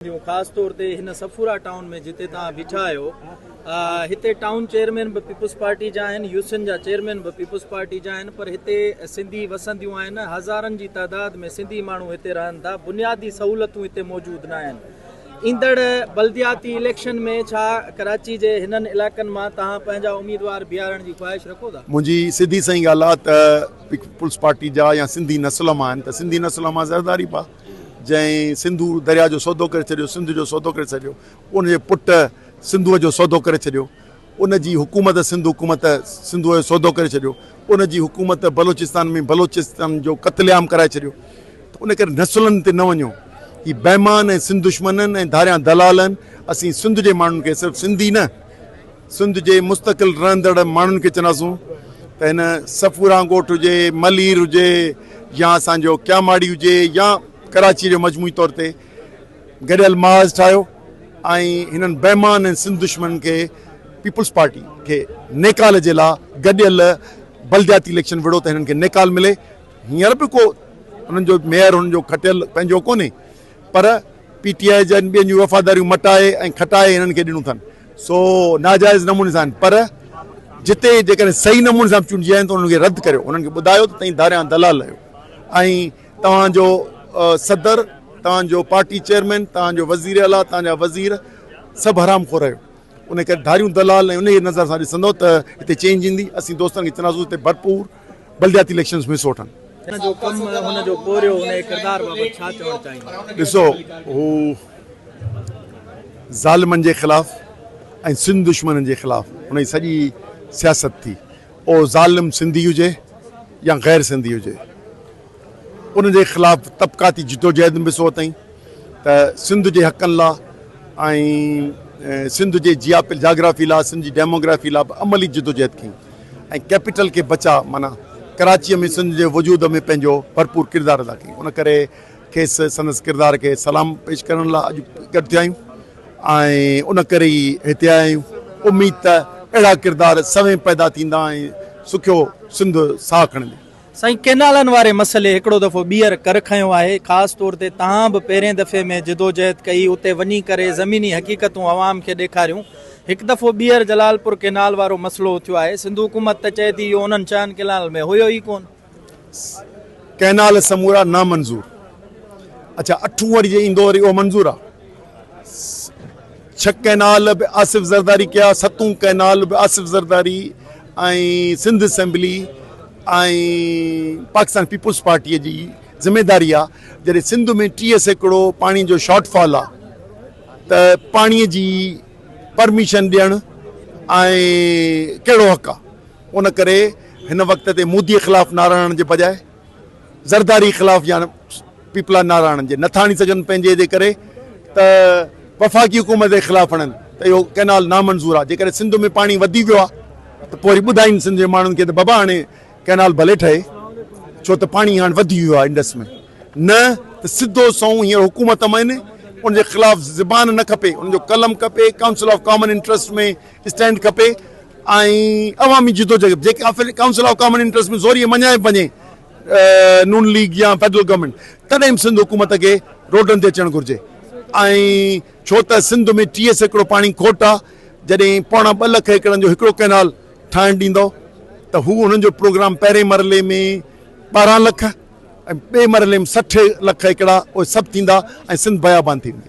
جون خاص طور تي هن صفورا ٽائون ۾ جتي توهان بيٺا آهيو هتي ٽائون چيئرمين به پيپلز پارٽي جا آهن يوسين جا چيئرمين به پيپلز پارٽي جا آهن پر هتي سنڌي وسنديون آهن هزارن جي تعداد ۾ سنڌي ماڻهو هتي رهن ٿا بنيادي سهولتون هتي موجود نه آهن ايندڙ بلدياتي اليڪشن ۾ ڇا ڪراچي جي هنن علائقن مان توهان پنهنجا اميدوار بيهارڻ جي خواهش رکو ٿا منهنجي سڌي سئي ڳالهه آهي ته پيپلز پارٽي جا يا سنڌي نسل مان آهن ته سنڌي نسل مان زرداري ڀاء جنهن سنڌو درياء جو سودو ڪري ڇڏيو، سنڌ جو سودو ڪري ڇڏيو، ان جي پٽ سنڌوء جو سودو ڪري ڇڏيو، ان جي حڪومت سنڌ حڪومت سنڌوء جو سودو ڪري ڇڏيو، ان جي حڪومت بلوچستان ۾ بلوچن جو قتل عام ڪرائي ڇڏيو ته ان ڪري نسلن تي نه وڃو، هي بيمان ۽ سنڌ دشمنن ۽ ڌاريان دلالن اسين سنڌ جي ماڻهن کي صرف سنڌي نه. سنڌ جي مستقل رهندڙ ماڻهن کي چونداسون ته هن صفوران ڳوٺ هجي، ملير هجي يا اسان جو ڪياماڙي هجي يا ڪراچيء جو مجموعي طور تي گڏيل محاذ ٺاهيو ۽ هنن بيمان ۽ سنڌ دشمنن کي پيپلز پارٽي کي نيڪال جي لا گڏيل بلدياتي اليڪشن وڙهو ته هنن کي نيڪال ملي هينئر به ڪو هنن جو ميئر هنن جو کٽيل پنهنجو ڪونهي پر پي ٽي آء جن ٻين جون وفاداريون مٽائي ۽ کٽائي هنن کي ڏنون ٿن. سو ناجائز نموني سان آهن پر جتي جيڪڏهن صحيح نموني سان چونڊجي آيا آهن ته انهن کي رد ڪريو انهن کي ٻڌايو ته تئين ڌاريان دلال آهيو ۽ توهان جو صدر توهان جو پارٽي چيئرمين توهان جو وزير اعليٰ توهان جا وزير سڀ حرام خور آهيو انهي ڪري ڌاريون دلال ۽ انهي نظر سان ڏسندو ته هتي چينج ايندي اسين دوستن کي چونداسون هتي ڀرپور بلدياتي اليڪشنز ۾ حصو وٺن. هن جو ڪم، هن جو پورهيو، انهيء ڪردار بابت ڇا چوڻ چاهيندا؟ ڏسو هو ظالمن جي خلاف ۽ سنڌ دشمنن جي خلاف هن جي سڄي سياست ٿي اهو ظالم سنڌي هجي يا غير سنڌي هجي ان جي خلاف طبقاتي جدوجهد ۾ به حصو ورتائين ته سنڌ جي حقن لا۽ سنڌ جي جياپل جاگرافي لا سنڌ جي ڊيموگرافي لا به عملي جدوجهد ڪيائين. ۽ ڪيپيٽل کي بچاء معنيٰ ڪراچيء ۾ سنڌ جي وجود ۾ پنهنجو ڀرپور ڪردار ادا ڪيائين ان ڪري کيس سندس ڪردار کي سلام پيش ڪرڻ لاء اڄ گڏ ٿيا آهيون ۽ ان ڪري ئي هتي آيا آهيون اميد ته اهڙا ڪردار سوين پيدا ٿيندا ۽ سکيو سنڌ ساهه کڻندي. سائين ڪينالن واري مسئلي هڪڙو دفعو ٻيهر ڪر کنيو آهي خاص طور تي تهان به پهرين دفعي ۾ جدوجهد ڪئي اتي وڃي ڪري زميني حقيقتون عوام کي ڏيکاريون هڪ دفعو ٻيهر جلال پور ڪينال وارو مسئلو اٿيو آهي سنڌو حڪومت ته چئي ٿي اهو انهن ڇهن ڪينالن ۾ هيو ئي ڪون. ڪينال سمورا نامنظور اڇا اٺون وري جي ايندو وري اهو منظور آ. ڇهه ڪئنال به آصف زرداري ڪيا، ستون ڪئنال به Asif Zardari ۽ Sindh assembly ۽ Pakistan peoples party جي ذميداري آ، جڏهن سنڌ ۾ ٽيهه سيڪڙو پاڻي جو شارٽ فال آ ته پاڻي جي پرميشن ڏيڻ ۽ ڪهڙو حق آ، ان ڪري هن وقت تي مودي خلاف نعرا هڻڻ جي بجاء. زرداري خلاف يا پيپلا ناراڻن جي نٿا آڻي سگهن پنهنجي جي ڪري ته وفاقي حڪومت جي خلاف آڻن ته اهو ڪئنال نامنظور آهي جيڪڏهن سنڌ ۾ پاڻي وڌي ويو آهي ته پوء وري ٻڌائين سنڌ جي ماڻهن کي ته بابا هاڻي ڪئنال ڀلي ٺهي ڇو ته پاڻي هاڻي وڌي ويو آهي انڊس ۾ نه ته سڌو سنئون هينئر حڪومت ۾ ان جي خلاف زبان نه کپي ان جو قلم کپي council of common interest ۾ stand کپي ۽ عوامي جدوجهد جيڪي offer council of common interest ۾ زوريء مڃائي وڃي نون ليگ يا فيڊرل گورنمينٽ تڏهن به سنڌ حڪومت کي روڊن تي اچڻ گهرجي ۽ ڇو ته سنڌ ۾ ٽيهه سيڪڙو پاڻي کوٽ آ جڏهن پوڻا ٻه لک ايڪڙن جو هڪڙو ڪئنال ٺاهڻ ڏيندو ته هو انهن جو پروگرام پهرين مرحلي ۾ ٻارهن لک ۽ ٻئي مرحلي ۾ سٺ لک ايڪڙا اهي سڀ ٿيندا ۽ سنڌ بيابان ٿي ويندي.